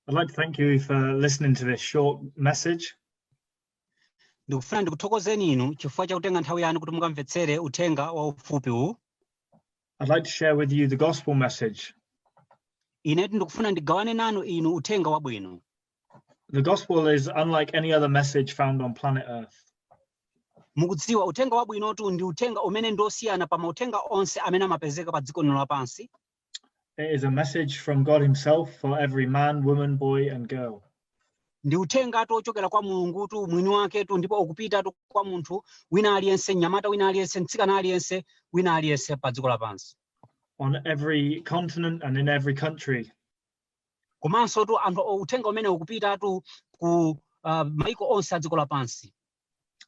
I'd like to thank you for listening to this short message. ndikufuna ndikuthokozeni inu chifukwa cha kutenga nthawi yanu kuti mukamvetsere uthenga wa ufupi uwu I'd like to share with you the gospel message. inetu ndikufuna ndigawane nanu inu uthenga wabwino The gospel is unlike any other message found on planet Earth. mukudziwa uthenga wabwinotu ndi uthenga umene ndi osiyana pa mauthenga onse amene amapezeka pa dziko lino lapansi It is a message from God Himself for every man, woman, boy, and girl. ndi uthengatu ochokera kwa mulungutu mwini waketu ndipo ukupitatu kwa munthu wina aliyense mnyamata wina aliyense mtsikana aliyense wina aliyense pa dziko lapansi on every continent and in every country. komansotu anthu o- uthenga umene ukupitatu ku uh, maiko onse a dziko lapansi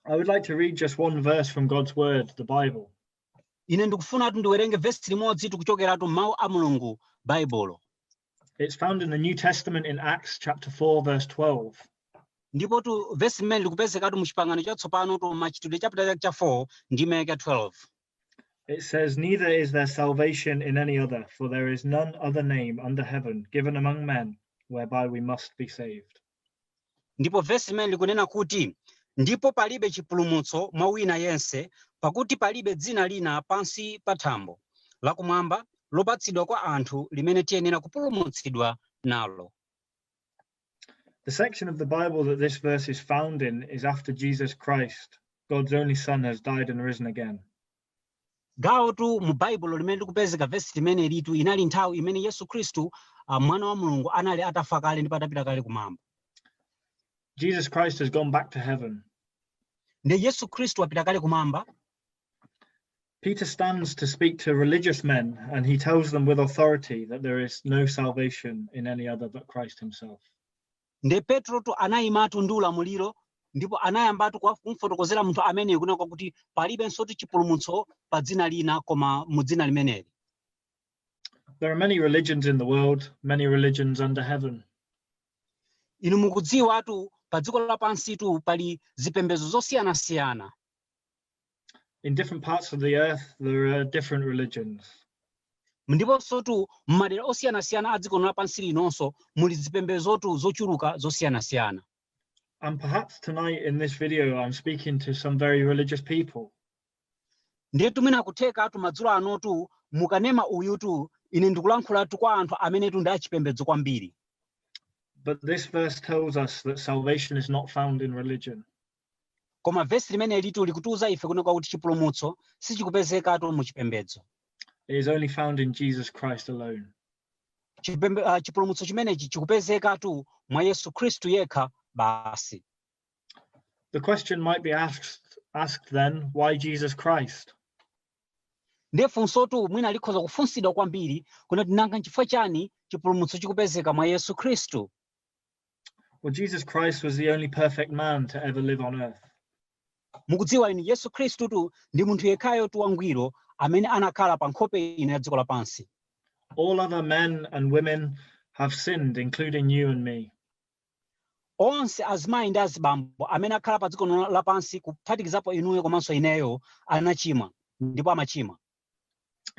I would like to read just one verse from God's Word, the Bible. ine ndikufunatu ndiwerenge vesi limodzitu kuchokeratu m'mawu a mulungu baibulo It's found in the New Testament in Acts chapter 4, verse 12. ndipotu vesi limeneli likupezekatu mu chipangano chatsopanotu machitidwe chaputala chake cha 4 ndime yake 12 It says, Neither is there salvation in any other, for there is none other name under heaven given among men whereby we must be saved. Ndipo vesi limeneli likunena kuti, Ndipo palibe chipulumutso mwa wina yense, pakuti palibe dzina lina pansi pa thambo, lakumwamba, lopatsidwa kwa anthu limene tiyenera kupulumutsidwa nalo. The section of the Bible that this verse is found in is after Jesus Christ, God's only Son, has died and risen again. gawotu mu baibulo limene likupezeka vesi limenelitu inali nthawi imene yesu khristu ah, mwana wa mulungu anali atafa kale ndipo atapita kale kumwamba Jesus Christ has gone back to heaven. nde yesu khristu wapita kale kumwamba Peter stands to speak to religious men and he tells them with authority that there is no salvation in any other but Christ himself. Nde Petrotu anayimatu ndi ulamuliro ndipo anayambatu kumfotokozera munthu ameneyu kunena kwakuti palibensotu chipulumutso pa dzina lina koma mu dzina limeneli. There are many religions in the world, many religions under heaven. Inu mukudziwatu pa dziko lapansitu pali zipembedzo zosiyanasiyana. In different parts of the earth, there are different religions. ndiponsotu m'madera osiyanasiyana a dziko lapansi linonso muli zipembedzotu zochuluka zosiyanasiyana And perhaps tonight in this video, I'm speaking to some very religious people. ndiyetu mwina kuthekatu madzulo anotu mukanema uyutu ine ndikulankhulatu kwa anthu amenetu ndi achipembedzo kwambiri But this verse tells us that salvation is not found in religion. Koma vesi limenelitu likutiuza ife kunena kwakuti chipulumutso sichikupezekatu mu chipembedzo. It is only found in Jesus Christ alone. Chipembe, uh, chipulumutso chimenechi chikupezekatu mwa Yesu Khristu yekha basi. The question might be asked, asked then, why Jesus Christ? ndiye funsotu mwina likhoza kufunsidwa kwambiri kunena kuti nanga nchifukwa chani chipulumutso chikupezeka mwa yesu khristu Well, Jesus Christ was the only perfect man to ever live on earth. mukudziwa inu yesu khristutu ndi munthu yekhayotu wangwiro amene anakhala pa nkhope ino ya dziko lapansi All other men and women have sinned, including you and me. onse azimayi ndi azibambo amene akhala pa dziko lino lapansi kuphatikizapo inuyo komanso ineyo anachimwa ndipo amachimwa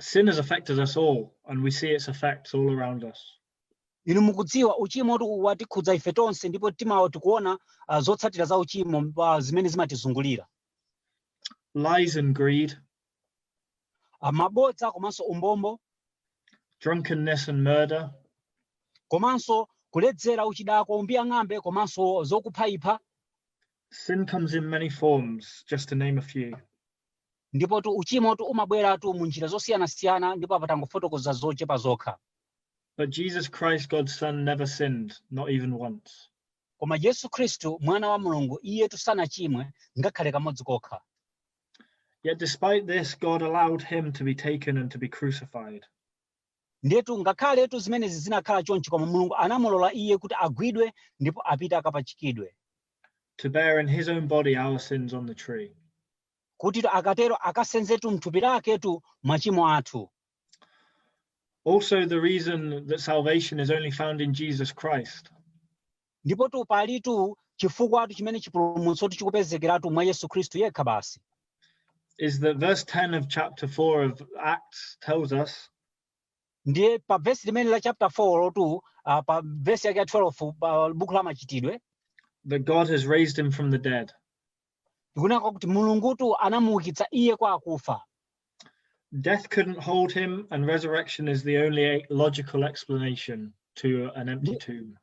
Sin has affected us all, and we see its effects all around us. inu mukudziwa uchimotu watikhudza ife tonse ndipo timawo- tikuona ah, zotsatira za uchimo ah, zimene zimatizungulira Lies and greed, Ah, mabodza komanso umbombo drunkenness and murder, komanso kuledzera uchidakwa umbiyang'ambe komanso zokuphaipha sin comes in many forms, just to name a few. ndipotu uchimotu umabweratu mu njira zosiyanasiyana ndipo apa tangofotokoza zochepa zokha But Jesus Christ, God's Son, never sinned, not even once. koma yesu khristu mwana wa mulungu iyetu sanachimwe ngakhale kamodzi kokha Yet despite this, God allowed him to be taken and to be crucified. Ndiyetu, ngakhaletu zimenezi zinakhala chonchi, koma Mulungu anamulola iye kuti agwidwe ndipo apite akapachikidwe. to bear in his own body our sins on the tree. kutitu akatero akasenzetu m'thupi laketu machimo athu. Also, the reason that salvation is only found in Jesus Christ. Ndipotu palitu chifukwatu chimene chipulumutsotu chikupezekeratu mwa Yesu Khristu yekha basi. is that verse 10 of chapter 4 of Acts tells us Ndiye pa vesi limene la chapter 4 lotu ah, pa vesi yake ya 12 pa buku la machitidwe that God has raised him from the dead. likunena kwakuti mulungutu anamuukitsa iye kwa akufa Death couldn't hold him, and resurrection is the only logical explanation to an empty tomb.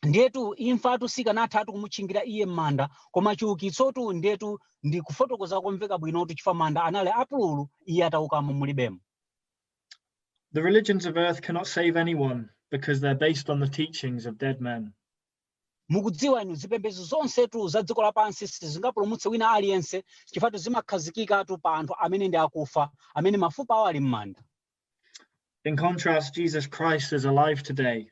ndetu imfatu sikanathatu kumutchingira iye m'manda koma chiukitsotu ndetu ndi kufotokoza komveka bwinotu chifukwa manda anali apululu iye ataukamo mulibemo The religions of earth cannot save anyone because they're based on the teachings of dead men. Mukudziwa inu, zipembedzo zonsetu za dziko lapansi sizingapulumutse wina aliyense, chifukwatu zimakhazikikatu pa anthu amene ndi akufa, amene mafupa awo ali mmanda. In contrast, Jesus Christ is alive today.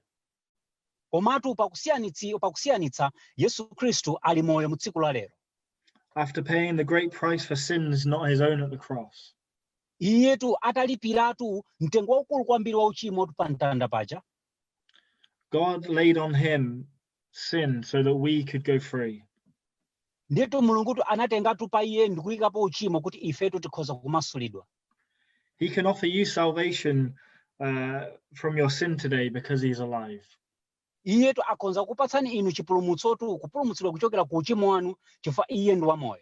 Komatu pakusiyanitsi, pakusiyanitsa, Yesu Khristu ali moyo mu tsiku la lero. After paying the great price for sins not his own at the cross. Iyetu atalipiratu mtengo waukulu kwambiri wa uchimotu pa mtanda paja. God laid on him sin so that we could go free. ndiyetu mulungutu anatengatu pa iye ndikuyikapo uchimo kuti ifetu tikhoza kumasulidwa He can offer you salvation uh, from your sin today because he's alive. iyetu akhonza kupatsani inu chipulumutsotu kupulumutsidwa kuchokera ku uchimo wanu chifukwa iye ndi wamoyo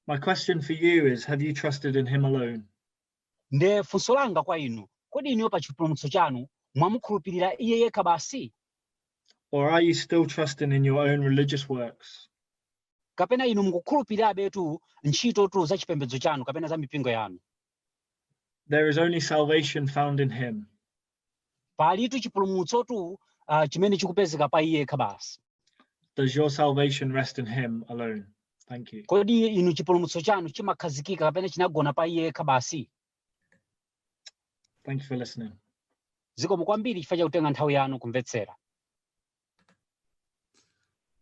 My question for you is Have you trusted in him alone? Nde funso langa kwa inu, kodi inuyo pa chipulumutso chanu mwamukhulupirira Iye yekha basi? Or are you still trusting in your own religious works? Kapena inu mukukhulupirirabetu ntchitotu za chipembedzo chanu kapena za mipingo yanu? There is only salvation found in Him. palitu chipulumutsotu uh, chimene chikupezeka pa iye yekha basi does your salvation rest in him alone thank you kodi inu chipulumutso chanu chimakhazikika kapena chinagona pa iye yekha basi thank you for listening zikomo kwambiri chifukwa chakutenga nthawi yanu kumvetsera